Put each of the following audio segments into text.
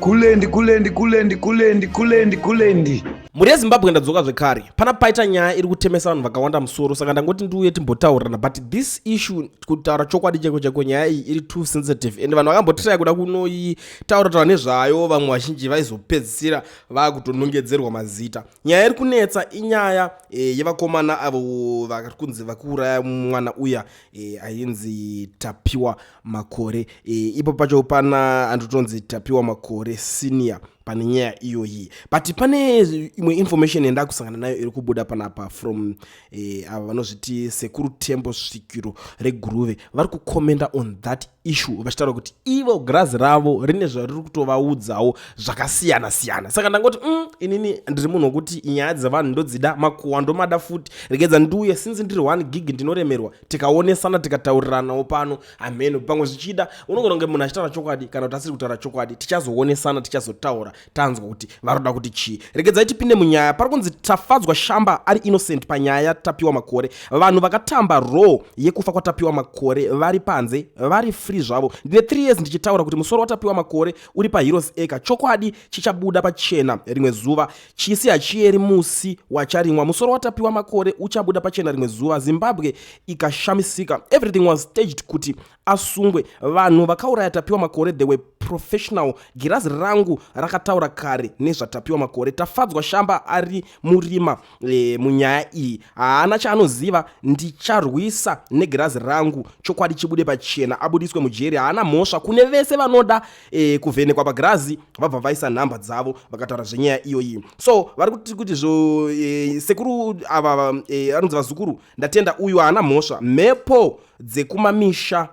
kulendi kulendi kulendi kulendi kulendi kulendi mhuri yezimbabwe ndadzoka zvekare pana paita nyaya iri kutemesa vanhu vakawanda musoro saka ndangoti ndiuye timbotaurirana but this issue kutaura chokwadi chaiko chaiko nyaya iyi iri too sensitive and vanhu vakambotitaya kuda kunoitaura taura nezvayo vamwe vazhinji vaizopedzisira vakutonongedzerwa mazita nyaya iri kunetsa inyaya e, yevakomana avo vari kunzi vakuuraya mwana uya e, ainzi tapiwa makore e, ipo pacho pana andotonzi tapiwa makore senior pane nyaya iyoyi but pane imwe information yandakusangana nayo iri kubuda panapa from e, ava vanozviti sekuru tembo svikiro reguruve vari kucommenta on that issue vachitaura kuti ivo grazi ravo rine zvariri kutovaudzawo zvakasiyana siyana saka ndangoti mm, inini ndiri munhu wekuti nyaya dzevanhu ndodzida makuwa ndomada futi regedza ndiuye since ndiri one gig ndinoremerwa tikaonesana tikatauriranawo pano hameno pamwe zvichida unogona kunge munhu achitaura chokwadi kana kuti asiri kutaura chokwadi tichazoonesana tichazotaura tanzwa kuti varoda kuti chii regedzai tipinde munyaya pari kunzi tafadzwa shamba ari innocent panyaya yatapiwa makore vanhu vakatamba row yekufa kwatapiwa makore vari panze vari free zvavo ndine 3 years ndichitaura kuti musoro watapiwa makore uri paheroes acre chokwadi chichabuda pachena rimwe zuva Chisi hachiyeri musi wacharimwa. Musoro waTapiwa Makore uchabuda pachena rimwe zuva. Zimbabwe ikashamisika. Everything was staged kuti asungwe. Vanhu vakauraya Tapiwa Makore they were professional. Girazi rangu rakataura kare nezvaTapiwa Makore. Tafadzwa Shamba ari murima e, munyaya iyi. Haana chaanoziva. Ndicharwisa negirazi rangu. Chokwadi chibude pachena. Abudiswe mujeri. Haana mhosva. Kune vese vanoda e, kuvhenekwa pagirazi vabva vaisa nhamba dzavo vakataura zvenyaya iyoyi so vari kuti kuti zvo e, sekuru ava e, anonzi vazukuru ndatenda uyu haana mhosva mhepo dzekumamisha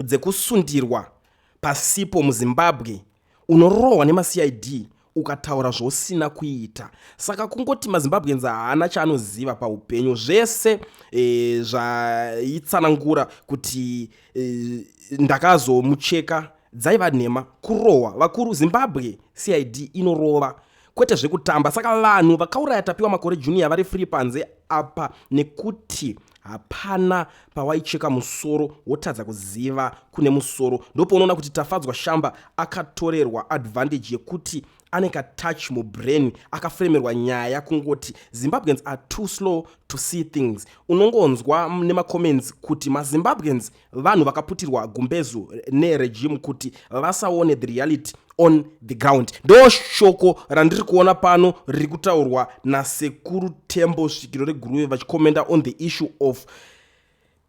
dzekusundirwa pasipo muzimbabwe unorohwa nemacid ukataura zvausina kuita saka kungoti mazimbabweans haana chaanoziva paupenyu zvese e, zvaitsanangura kuti e, ndakazomucheka dzaiva nhema kurohwa vakuru zimbabwe cid inorova kwete zvekutamba saka vanhu vakauraya tapiwa makore junior vari free panze apa nekuti hapana pawaicheka musoro wotadza kuziva kune musoro ndopaunoona kuti tafadzwa shamba akatorerwa advantage yekuti ane katouch mubrain akafremerwa nyaya kungoti zimbabweans are too slow to see things unongonzwa nemacomments kuti mazimbabweans ma vanhu vakaputirwa gumbezu neregime kuti vasaone the reality on the ground ndo shoko randiri kuona pano riri kutaurwa nasekuru tembo svikiro reguruve vachikomenda on the issue of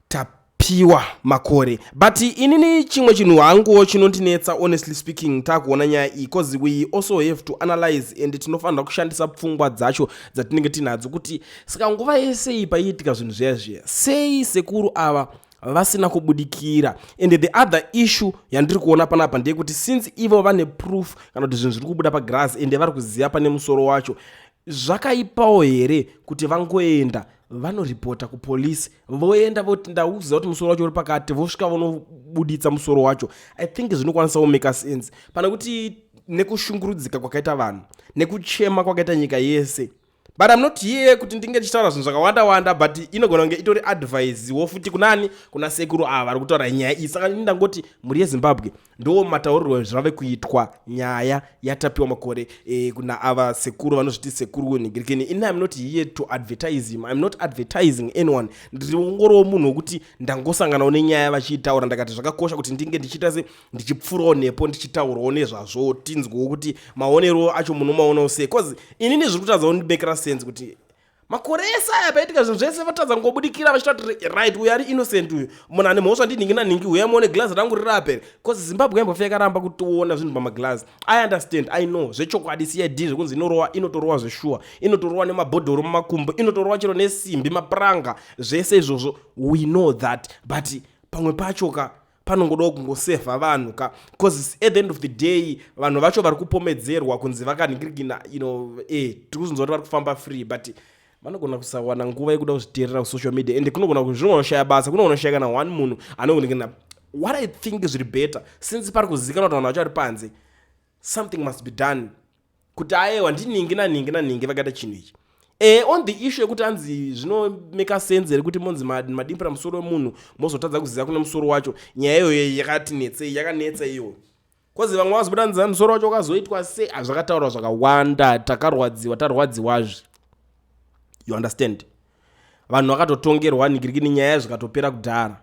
tap piwa makore but inini chimwe chinhu hanguwo chinondinetsa honestly speaking takuona nyaya iyi bcause we also have to analyze and tinofanira kushandisa pfungwa dzacho dzatinenge tinadzo kuti saka nguva yese iyi paiitika zvinhu zviya zviya sei sekuru ava vasina kubudikira and the other issue yandiri kuona panapa ndeyekuti since ivo vane proof kana kuti zvinhu zviri kubuda pagrass ende vari kuziva pane musoro wacho zvakaipawo here kuti vangoenda vanoripota kupolisi voenda voti ndauziva kuti musoro wacho uri pakati vosvika vonobuditsa musoro wacho i think zvinokwanisa kumeka sense pane kuti nekushungurudzika kwakaita vanhu nekuchema kwakaita nyika yese but im not here kuti ndinge ndichitaura zvinhu zvakawanda wanda but inogona kunge itori advise wo futi kunani kuna sekuru ava vari kutaura nyaya iyi saka ini ndangoti mhuri yezimbabwe ndo mataurirwo zvave kuitwa nyaya yatapiwa makore e, kuna ava sekuru vanozviti sekuru wenhigirikeni ini im not here to advertise him im not advertising anyone ndiri ungoriwo munhu wekuti ndangosanganawo nenyaya vachiitaura ndakati zvakakosha kuti ndinge ndichiita se ndichipfurawo nepo ndichitaurawo nezvazvo tinzwewo kuti maonero acho munomaonawo sei bcause inini zviri kutadza kundimekera sense kuti makore ese aya paitika zvinhu zvese vatadza ngobudikira vachita kuti right uyo ari innocent uyu munhu ane mhosva ndinhingi nanhingi uya muone glazi rangu riri apere bcause zimbabwe yambofa yakaramba kutiona zvinhu pamaglazi i understand i know zvechokwadi cid zvekunzi inorowa inotorowa zveshuwa inotorowa nemabhodhoro mumakumbo inotorowa chero nesimbi mapuranga zvese izvozvo we know that but pamwe pacho ka panongodawo kungosevha vanhu ka bcause at the end of the day vanhu vacho vari kupomedzerwa kunzi vakanhingirikina you know eh, tiri kuzonzwa kuti vari kufamba free but vanogona kusawana nguva yekuda kuzviteerera kusocial media and kunogona kuzvinogona kushaya basa kunogona kushaya kana one munhu anonhingirikina what i think zviri better since pari kuzivikanwa kuti vanhu vacho vari panze something must be done kuti ayewa ndiningi naningi naningi vakaita chinhu ichi e on the issue yekuti anzi zvinomeka sense here kuti monzi madimbira musoro wemunhu mozotadza kuziva kune musoro wacho nyaya iyoyo yakatinetsei yakanetsa iyoyo kozi vamwe vazobuda nzaa musoro wacho wakazoitwa se hazvakataurwa zvakawanda takarwadziwa tarwadziwazve you understand vanhu vakatotongerwa nigirikini nyaya yayo zvikatopera kudhara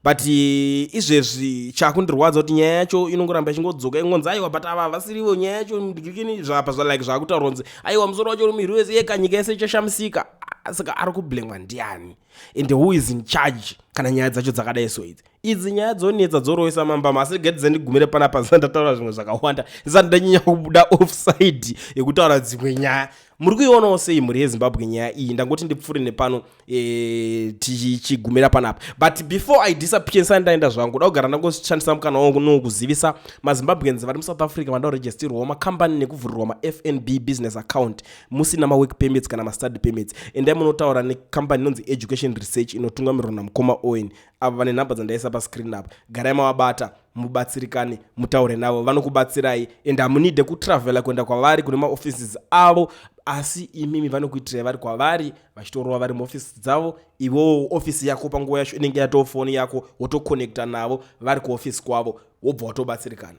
but eh, izvezvi chakundirwadza kuti nyaya yacho inongoramba ichingodzoka ingonzi aiwa but ava vasirivo nyaya yacho nigirikini zvapa zvalike zvakutaurwa nzi aiwa musoro wacho uri muhiri wese yeka nyika yese ichashamisika saka ari kublemwa ndiani and who is in charge kana nyaya dzacho dzakadai so idzi idzi nyaya dzonetsa dzorohwesa mambama asi rega dzandigumire panapa zisati ndataura zvimwe zvakawanda zisati ndanyanya kubuda offside yekutaura dzimwe nyaya muri kuionawo sei mhuri yezimbabwe nyaya iyi ndangoti ndipfuure nepano e, tichigumira panapa but before i disappear ndisati ndaenda zvangu da kugara ndangoshandisa mukana wangu no kuzivisa mazimbabweans vari musouth africa vanoda kuregisterwawo makambani nekuvhurirwa mafnb business account musina mawork permits kana mastudy permits endai munotaura nekambani inonzi education research inotungamirwa namukoma owen avo vane nhamba dzandaisa pascreen apo garai mavabata mubatsirikane mutaure navo vanokubatsirai and hamunide kutravela kuenda kwavari kune maoffices avo asi imimi vanokuitirai vari kwavari vachitorova vari muoffice dzavo iwewo office yako panguva yacho inenge yatoo foni yako wotoconnecta navo vari kuoffice kwavo wobva watobatsirikana